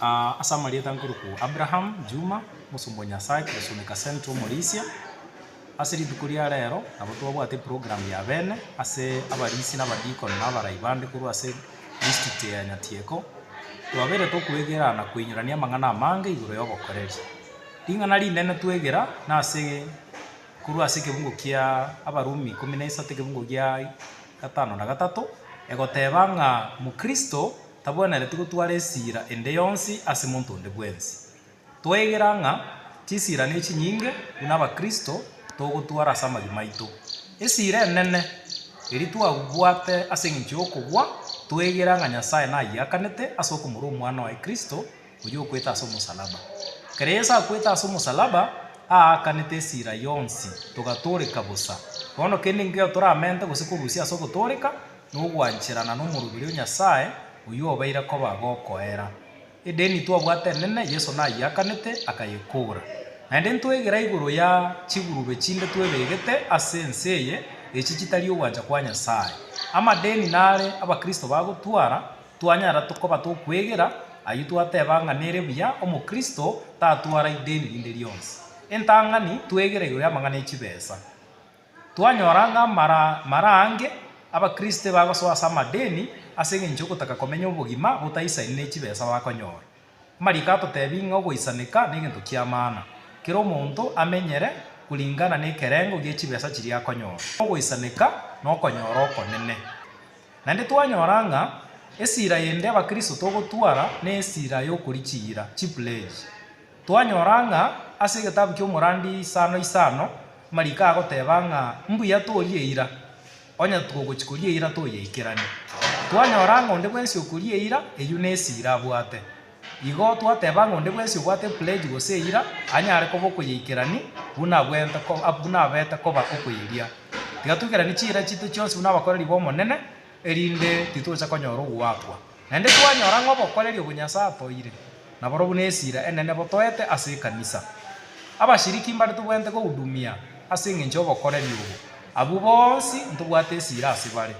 Ase amarieta nkorokwo Abraham Juma, omosomba o Nyasae, Korosunika Central Omorisia. Ase rituko ria rero nabo twabwate program ya bene ase abarisia na abadiakoni na abarai bande korwa ase district ya Nyatieko. Twabeire tokwegera na koinyorania amang'ana amange igoro y'obokoreri. Ring'ana rinene twegera nase korwa ase ekebungo kia Abarumi ikomi na isato ekebungo gia gatano na gatato egoteba ng'a mokristo. tabwenereti gotwara esiira ende yonsi ase monto onde bwensi. Twaigera ng'a chisiira nechinyinge buna abakristo togotwara ase amagi maito. Esiira enene eria twabwate ase engencho y'okobua, twaigera ng'a Nyasae nayiakanete ase okomorwa Omwana oye Kristo, Oyio okwete ase omosalaba. Ekero Yeso akwete ase omosalaba, aakanete esira yonsi, togatooreka bosa. Bono kende nkaiyo toramente gose korusia ase ogotooreka na ogwancherana n'omoroberi o Nyasae, oyio obeire koba gokoera. Edeni twabwate enene Yeso nayeakanete, akayekora. Naende ntwegera igoro ya chigurube chinde twebegete ase ense eye, echi chitari ogwancha kwa Nyasae. Amadeni nare Abakristo bagotwara. Twanyara koba tokwegera ayio twateba ng'a nere buya Omokristo tatwara ideni rinde rionsi. Entang'ani twegera igoro y'amang'ana e chibesa. Twanyora ng'a mara ange Abakristo ebagosoa ase amadeni ase engencho y'ogotaka komenya obogima botaisaini ne chibesa bakonyora. Amariiko atotebi ng'a ogoisaneka negento ki'amana, kera omonto amenyere koringana nekerengo gie chibesa chiria akonyora. Ogoisaneka nokonyora okonene. Naende twanyora ng'a esira ende abakristo togotwara nesira y'okorichiira, chipledge. Twanyora ng'a ase egetabu ki'omorandi isano isano, amariiko agoteba ng'a mbuya torie eira. Onye togochia koria eira toyeikeranie, twanyora ng'a onde bwensi okoria eira, eyio nesiira abwate. Igo twateba ng'a onde bwensi obwate epledge gose eira, anyare koba okoyeikerani buna buna abete koba okoyeria. Tiga toikeranie chiira chiaito chionsi buna abakoreri b'Omonene, erinde titocha konyora ogoakwa. Naende twanyora ng'a obokoreria obwo Nyasae atoeire naborobwo nesira enene botoete ase ekanisa. Abashiriki mbare tobwenerete gohudumia ase engencho y'obokoreria obo. Abwo bonsi ntobwate esira ase bare.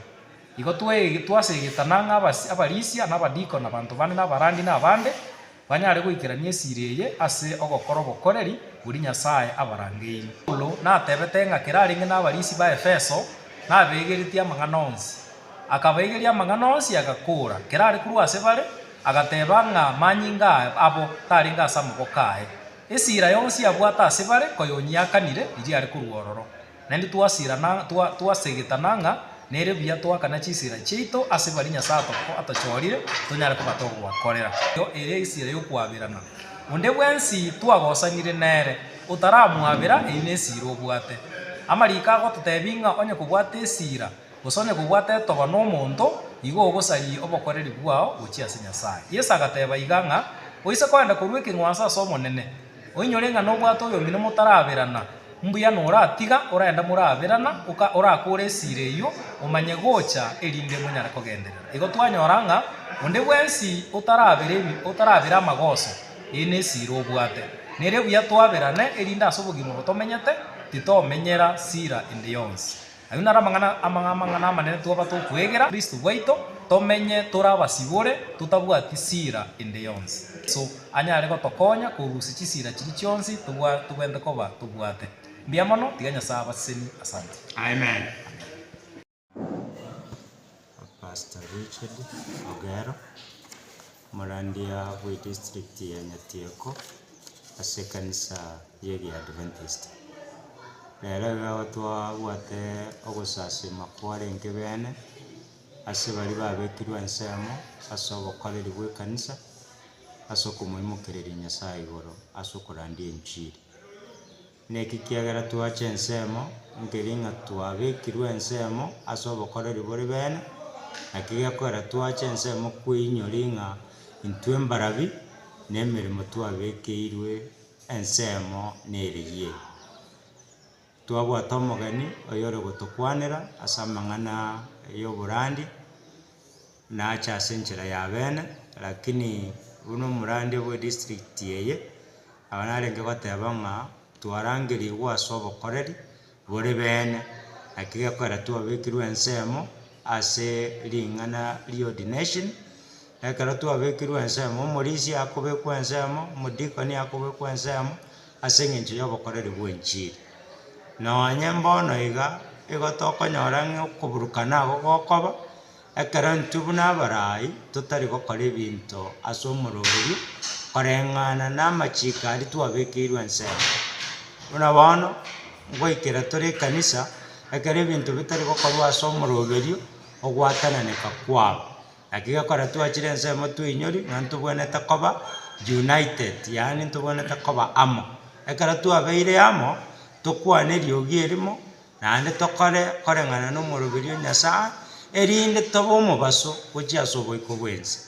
Igo twaseegeta nang'aa abarisia, na abadikoni, na abanto bande, na abarandi, na abande. Banyare goikerania esiri eye ase ogokora obokoreri boria Nyasae abarangeirie. Paulo natebete ng'a kerarenge nabarisia ba Efeso nabeegeretie amang'ana onsi. Akabaegeria amang'ana onsi agakoora kerare korwa ase bare, agateba ng'a manyinga abo tarenge ase amaboko aye. Esira yonsi abwate ase bare koyonyiakanire iri are korwa ororo. Naende twasirana, twa, twasegetana ng'a nere buya toakana chisira chiaito ase baria Nyasae atoko, atochorire tonyare koba togobakorera. Eyo ere esira y'okoaberana. Onde bwensi twagosanire nere, otaramwabera, eyio nesira obwate. Amariiko agototebi ng'a onye kobwate esira, gose onye kobwate etoba nomonto, igo ogosarie obokoreri bwao gochia ase Nyasae. Yeso agateba iga ng'a, Oise koenda korua ekeng'wanso ase Omonene, Oinyore ng'a nobwate oyomino motaraberana, mbuya noratiga oraenda moraberana, oka orakore esira eyio, omanye gocha erinde monyare kogenderera. Igo twanyora ng'a onde bwensi otarabera ebi otarabera amagoso, eye nesira obwate. Nere buya twaberane erinde ase obogima obo tomenyete titomenyera sira ende yonsi. Ayio naro amang'ana amang'ana amanene twaba tokwegera Kristo bwaito, tomenye tore abasibore, totabwati sira ende yonsi. Yeso anyare gotokonya korusia chisira chiria chionsi tobwate koba tobwate. Mbuya mono, tiga Nyasae abasesenie. Asanti. Amen. Pastor Richard Ogero, omorandia bwe district ya Nyatieko ase ekanisa y'egi Adventist. Nere iga igo twabwate ogosasima kwarenge beene ase baria babekirwe ensemo ase obokoreri bw'ekanisa, ase okomoimokereria Nyasaye igoro ase okorandia enchiri. Naki kiagera twache ensemo, nkeri ng'a twabekirwe ensemo ase obokoreri bore bene, naki gekorera twache ensemo kweinyori ng'a intwe mbarabi nemeremo twabekeirwe ensemo nereyie. Twabwate omogeni oyore gotokwanera ase amang'ana y'oborandi. nache ase enchera y'abene, lakini buna omorande bwe district eye, abana narenge goteba ng'a twarangeriigwe ase obokoreri bore beene, naki gekorera twabekirwe ensemo ase ring'ana ri'ordination, ekero twabekirwe ensemo, omorisia akobekwa ensemo, omodikoni akobekwa ensemo. ase engencho y'obokoreri bw'enchiri. Nonye mbono iga igo tokonyora ng'a okoburukana agwo gokoba, ekero intwe buna abarai totari gokora ebinto ase omoroberio koreng'ana namachiko aria twabekeirwe ensemo. Buna bono, ngoikera tore ekanisa, ekero ebinto bitari gokorwa ase omoroberio, ogwatananeka kwabo. Naki gekora twachire ensemo twainyori nonya ntobwenerete koba united, yaani ntobwenerete koba amo. Ekero twabeire amo, tokwane eriogi erimo, naende tokore koreng'ana na omoroberi o Nyasae, erinde tobe omobaso gochia ase oboiko bw'ense.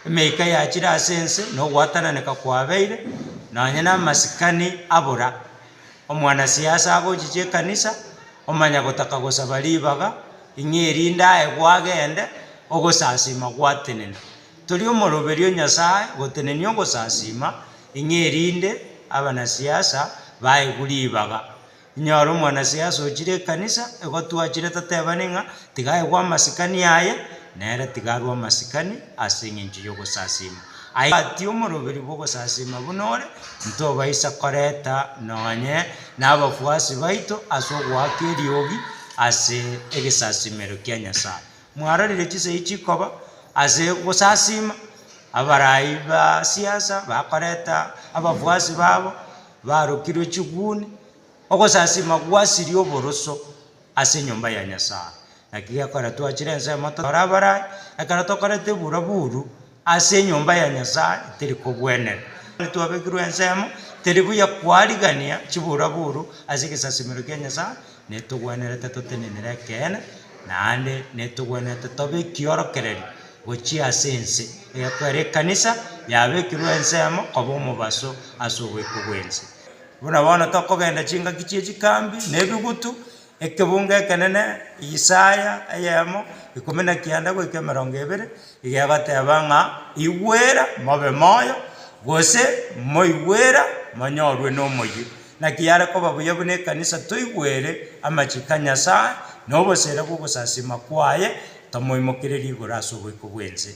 Emeika yachire ase ense, na ogwatananeka kwabeire, nonya na amasikani abora. Omwanasiasa agochiche ekanisa, omanya gotaka gosaba ribaga, Ing'e erinde aye gwagende, ogosasiima gwatenena. Toria omoroberi o Nyasae gotenenia ogosasiima, ing'e erinde abanasiasa baegwe ribaga. Inyore omwanasiasa ochire ekanisa, egotwachire totebani ng'a tiga aegwe amasikani aye, nere tiga arwe amasikani ase eng'encho y'ogosasiima. Aye obwati omoroberi bw'ogosasima buna ore, ntobaisa koreta nonye nabafuasi baito ase ogoaka eriogi ase egesasimero kia Nyasae. Mwarorire chisegi chikoba ase gosasima? Abarai ba siasa bakoreta abafuasi babo barokirwe chiguni. Ogosasima gwasirie oboroso ase enyomba ya Nyasae. Naki gekogera twachire ensemo totore abarai, ekero tokorete buraburu. Ase enyomba ya Nyasae teri kogwenerwa. Onye twabekirwe ensemo, teri buya kwarigania chiburaburu ase egesasimero kia Nyasae, netogwenerete totenenere ekeene, naende netogwenerete tobe ekiorokererio gochia ase ense, egekwera ekanisa yabekirwe ensemo koba omobaso ase ogoika gw'ense. Buna bono tokogenda chingaki chie chikambi, na ebigutu, Ekebunga ekenene, Yisaya, eyemo, ikomi na kianda goika emerongo ebere, igegoteeba ng'a, Igwera, mobe moyo, gose, Moigwera, monyorwe n'omoyio. Naki yare koba buya buna ekanisa toigwere amachiko a Nyasae na oboseera bw'ogosasima kwaye, tomoimokereria igoro ase oboiko bw'ense.